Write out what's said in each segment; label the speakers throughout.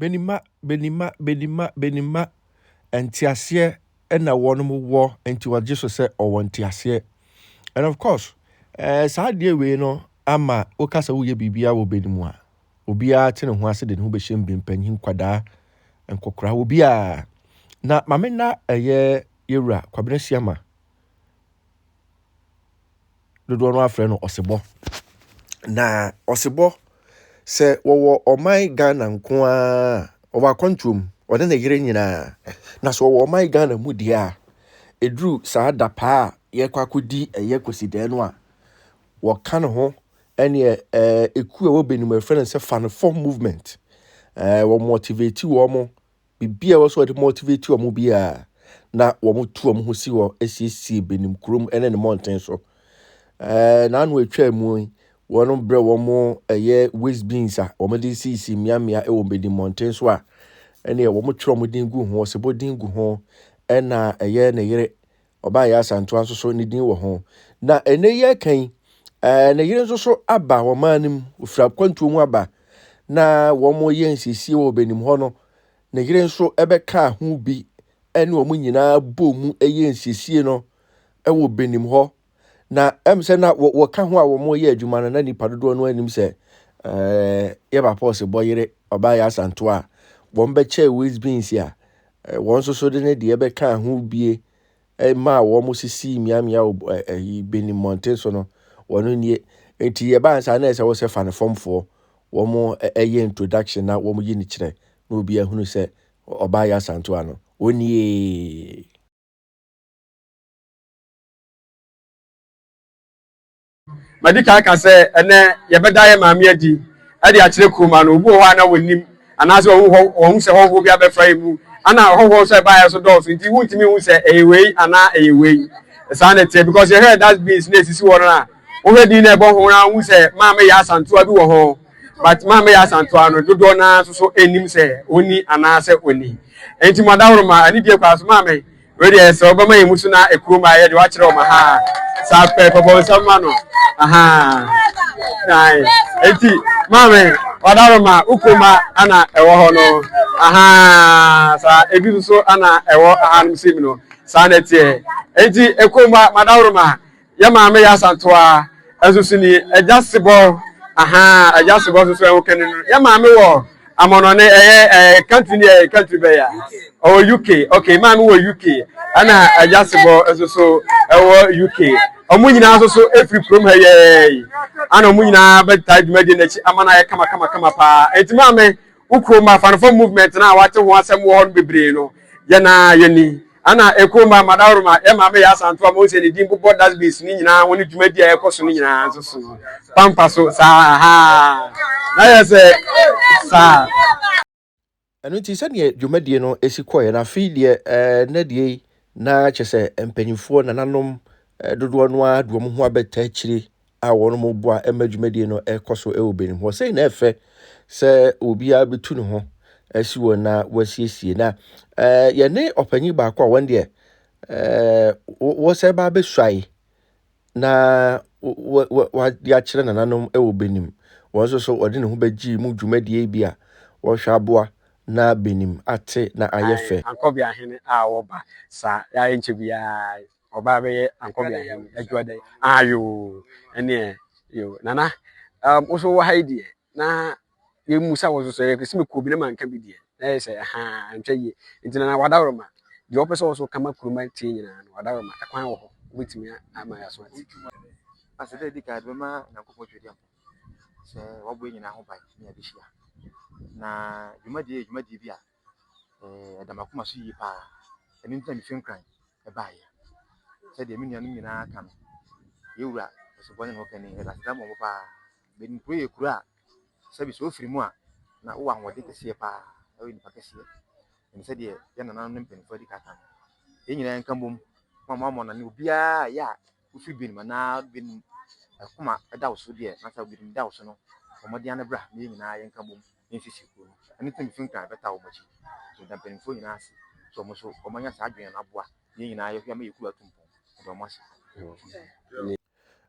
Speaker 1: Benima benima benima benima nteaseɛ na wɔnom wɔ nti wɔgye so sɛ ɔwɔ nteaseɛ and of course ɛɛ eh, saa adeɛ wei no ama woka sɛ woyɛ biribiara wɔ bɛni mu a obiara te ne ho ase de ne ho bɛhyɛ mu bi mpanyin nkwadaa nkɔkora obiara na mame na ɛyɛ yɛwura kwabena siama dodoɔ no ara frɛ no ɔsebɔ. Na ɔsebɔ, sɛ wɔwɔ ɔman Ghana nko ara, ɔwɔ akwantuo mu, ɔne ne yere nyinaa. Na sɛ ɔwɔ ɔman Ghana mu deɛ a, ɛduru saa da paa a yɛkɔ akɔdi ɛyɛ kwasidan no a, wɔka ne ho ɛneɛ ɛkuo a ɛwɔ Benin mu yɛfrɛ no sɛ Fanefɔ movement. Ɛɛ wɔn motivate wɔn biribi a ɛwɔ sɛ wɔde motivate wɔn biara na wɔtu wɔn ho si hɔ asiesie benim kurom ne ne mmɔnten so ɛɛ n'ano atwa mu yi wɔn brɛ wɔn ɛyɛ waste beans a wɔde sisi mmeammea wɔ benim mmɔnten so a ɛnneɛ wɔtwerɛ wɔn din gu ho ɔsebɔ din gu ho ɛna ɛyɛ ne yere ɔbaa yɛ asantoa nso so ne din wɔ ho na ɛnɛ yi ɛka yi ɛɛ ne yere nso so aba wɔn maa no mu ofira kwantuo mu aba na wɔn yɛ nsiesie wɔ ɔbɛnim hɔ no ne yere nso ɛbɛka ho bi ɛne wɔn nyinaa bɔ mu ɛyɛ nsiesie no ɛwɔ ɔbɛnim hɔ na ɛm sɛ na wɔka ho a wɔn yɛ adwuma no na nipa dodoɔ no anim sɛ ɛɛ yɛ ba pɔs bɔ yere ɔbaa yɛ asantoa a wɔn bɛkyɛ waste beans a wɔn nso so de ne deɛ bɛkaa ho bie maa wɔn sisii mmeammea ɛyi bɛni mmɔnten so no wɔn nie nti yɛbaa nsa na ɛsɛ wɔsɛ fa ne fɔmfoɔ wɔn ɛyɛ introduction na wɔn yi ne kyerɛ na obi ahunu sɛ ɔbaa yɛ asanto ano onie.
Speaker 2: Madi kan aka sɛ ɛnnɛ yɛbɛda yɛn maame adi de akyerɛ kurom ano. Obi wɔ hɔ a na wɔnnim anaasɛ wɔn ho wɔn ho sɛ hɔhoɔ bi abɛfra yɛn mu. Ana hɔhoɔ nso a ɛbaa yɛn so dɔɔso nti wontumi nhu sɛ ɛyɛ wei anaa ɛyɛ wei. Saa na ɛteɛ because yɛhwɛ dust bins na ɛsisi hɔ no a wohwɛ din na ɛbɔ ho na wohu sɛ maame yɛ asantoa bi wɔ ho but maame yɛ asantoa no dodoɔ no ara nso so ɛnnim sɛ ɔnni anaasɛ ɔnni. Nti mo adahoro ma anidie kɔ ara so maame. Wei deɛ sɛ ɔbɛma yɛn mu so na ɛkurom a yɛde wakyerɛ wɔn ahaa saa pɛ kɔbɔ nsɛm ma no ahaa naae eti maame wadaro ma ukoma ana ɛwɔ hɔ no ahaa saa ebi nso ana ɛwɔ ahanom sim no saa na ɛteɛ eti ekoma madaro ma Yɛ maame yɛ asantoa ɛnso so ni ɛgya sebɔ ahaa ɛgya sebɔ nso so ɛho kɛne no yɛ maame wɔ amɔnɔ ne ɛyɛ ɛɛ country ne ɛyɛ country bɛyɛ ɔwɔ UK okay maame wɔ UK ɛna ɛgya sebɔ nso so ɛwɔ UK ɔmo nyinaa nso so efiri kurom ha yɛɛ yi ana ɔmo nyinaa bɛtaa dwumadie n'akyi ama no ayɛ kama kama kama paa eti maame wo kurom afanefo movement no a wate ho asɛm wɔ hɔ no bebree no yɛn a yɛni ana ɛkurom ma madawroma yɛ maame yɛ asanto a monsɛ ne din bobɔ dustbins no nyinaa ho ne dwumadi a ɛkɔ so no nyinaa nso so pampa so saa ha na yɛ sɛ saa
Speaker 1: ɛno nti sɛdeɛ dwumadie no si kɔɛ na afei deɛ ɛɛ na deɛ na kyɛ sɛ mpanyinfoɔ nananom dodoɔ no ara de wɔn ho abɛta akyire a wɔboa ma dwumadie no kɔ so wɔ Benin hɔ. Sei na ɛfɛ sɛ obiara bɛtu ne ho asi wɔn na wɔasiesie. Na eh, yɛne ɔpanyin baako a wɔn deɛ eh, wɔsɛ ba abɛsuae na wɔde akyerɛ nananom wɔ Benin. Wɔn nso so wɔde ne ho bɛgye mu dwumadie bi a wɔhwɛ aboa na Benin ate na ayɛ fɛ. Ankɔbea hene a
Speaker 2: wɔba saa yɛayɛ nkyɛ biara ɔbaa bɛyɛ ankɔbea hɛn adwuma dɛ ayo ɛneɛ yo nana um, wo so wɔ ha yi deɛ na yɛmu sa wo so sɛ yɛkɛsi me kɔbi na manka bi deɛ na yɛ sɛ ha ntwa yie nti nana wadaworoma deɛ wɔpɛ sɛ wɔ so kama kuruma tie nyinaa no wadaworoma ɛkwan wɔ hɔ wobɛtumi ama yɛ aso ate asɛ dɛ di
Speaker 3: ka de bɛma nyankopɔn twɛdi ampa sɛ wɔbɔ nyinaa ho ban ne yɛbɛhyia na dwumadie dwumadie bi a ɛda m'akoma so yie paa. Ɛno nti na mefi Nkran baeɛ. Sɛdeɛ me nuanom nyinaa ka no, yɛn wura Osebɔ ne ne ho kɛne, yɛde asetena bɔ mo paa. Benin kuro yɛ kuro a, sɛbi sɛ wofiri mu a, na wowɔ ahoɔden kɛseɛ paa, na woyɛ nipa kɛseɛ. Ɛne sɛdeɛ yɛn nananom ne mpanimfoɔ de ka no. Yɛn nyinaa yɛnka bom ma moammɔ no ani, obiara a ɛyɛ a Wofi binom anaa binom akoma da wo so deɛ na sɛ binom da wo so no, bɔ mmɔden ara na bra na yɛn nyinaa yɛnka bom na yɛnsiesie kurow no. Ɛno nti na mifi Nkran bɛtaa wɔn akyi. Nti meda mpanyimfo nyinaa ase sɛ wɔn nso wɔanya saa adwene no aboa na yɛn nyinaa yɛhwɛ ama yɛn kurow atu mpɔn. Meda wɔn ase.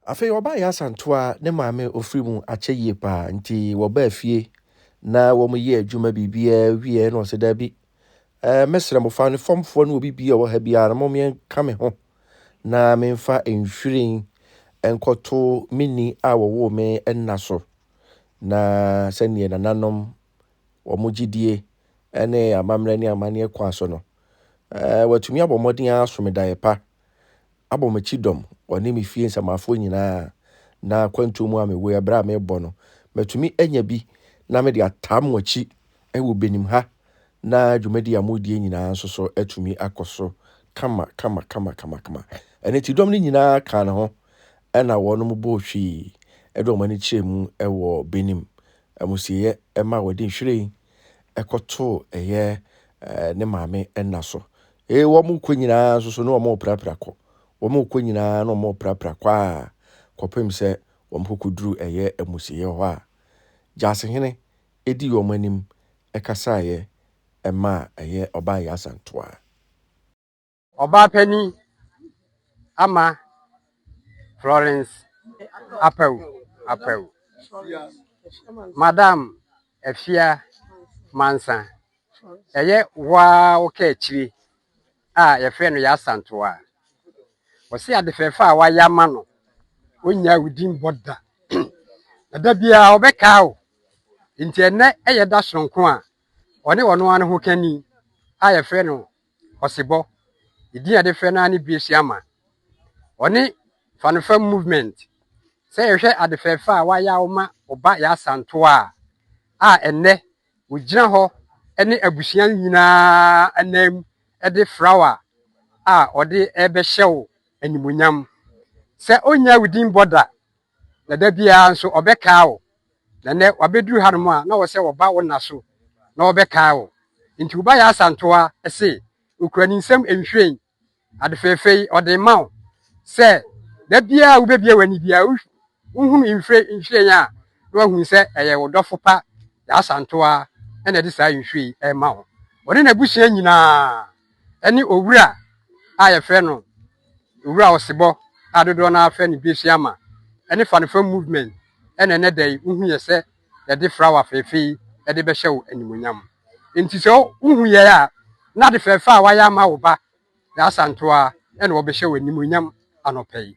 Speaker 1: Afei ɔbaa yɛ asantew a ne maame ofiri mu akyɛ yie paa nti wɔbaa fie na wɔyɛɛ adwuma biribiara wieeɛ na ɔse daabi Eh, mɛsrɛ mo, fa ne fɔmfoɔ ne obi bia wɔ ha biara no mo meɛnka me ho na memfa nhwiren nkɔto me ni a wɔwoo me nna so na sɛdeɛ nananom wɔn gyidie ne amammerɛ ne amanneɛ kwan so no, eh, wɔatumi abɔ mmɔden ara so me daeɛ pa abɔ m'akyi dɔm, ɔne me fie nsamafoɔ nyinaa, na akwantuo mu a mewɔ yi, berɛ a merebɔ no, matumi anya bi na mede atam mo akyi wɔ Benim ha, na dwumadie a moredie nyinaa nso so atumi akɔ so kama kama kama kama kama. Ɛno nti dɔm no nyinaa kaa ne ho, ɛna wɔnom bɔɔ hwii de wɔn ani kyerɛɛ mu wɔ Benim, amusieɛ ma wɔde nhwiren. kɔtoo ɛyɛ ne maame nna so. Ee, wɔkɔ nyinaa nso so na wɔreprapra kɔ. Wɔkɔ nyinaa na wɔreprapra kɔ a kɔpem sɛ wɔkɔkɔduru ɛyɛ amusieɛ hɔ a Gyasehene di wɔn anim kasaeɛ maa ɛyɛ Ɔbaa Yasantoa.
Speaker 4: Ɔbaapanin ama Florence Apawu Apawu, Madam Afia Mansa, ɛyɛ wo ara wo kaakyire a yɛfrɛ no Yasantoa. Ɔse ade fɛɛfɛ a wayɛ ama no, ɔnnya wo din bɔ da. Ɛda biara ɔbɛkaa wo. Nti ɛnɛ ɛyɛ da soronko a ɔne ɔno ara ne ho kani a yɛfrɛ no Ɔsebɔ, ne din a yɛde frɛ no ara ne Biesiama. Ɔne Fanfam Movement. Sɛ yɛhwɛ ade fɛɛfɛ a wayɛ a ɔma ɔba yɛ Asantew a, a ɛnnɛ ogyina hɔ ne abusua no nyinaa anan mu de flawa a ɔde rebɛhyɛ wo animuonyam. Sɛ ɔnnya wo din bɔ da, na da biara nso ɔbɛkaa wo. na nnɛ wabɛduru hanom a na wɔ sɛ wɔba wo nna so na wɔbɛkae wo nti wo ba yɛ asantoa se okura ne nsam nhwiren ade fɛfɛ yi ɔde ma wo sɛ da biara wobɛbia w'ani biara wohunu nhwiren a na wahunu sɛ ɛyɛ wo dɔfo pa yɛ asantoa ɛna ɛde saa nhwiren yi ɛma wo ɔne n'abusua nyinaa ne Owura a yɛfrɛ no Owura Osebɔ a dodoɔ no ara frɛ no Besuama ne Fanifa Movement na ɛnɛ da yi wohu yɛ sɛ yɛde frawa fɛɛfɛ yi de bɛhyɛ wo animonyam. Nti sɛ wohu yɛ a na ade fɛɛfɛ a wayɛ ama wo ba Yaa Santoa na wɔbɛhyɛ wo animonyam anɔpa yi.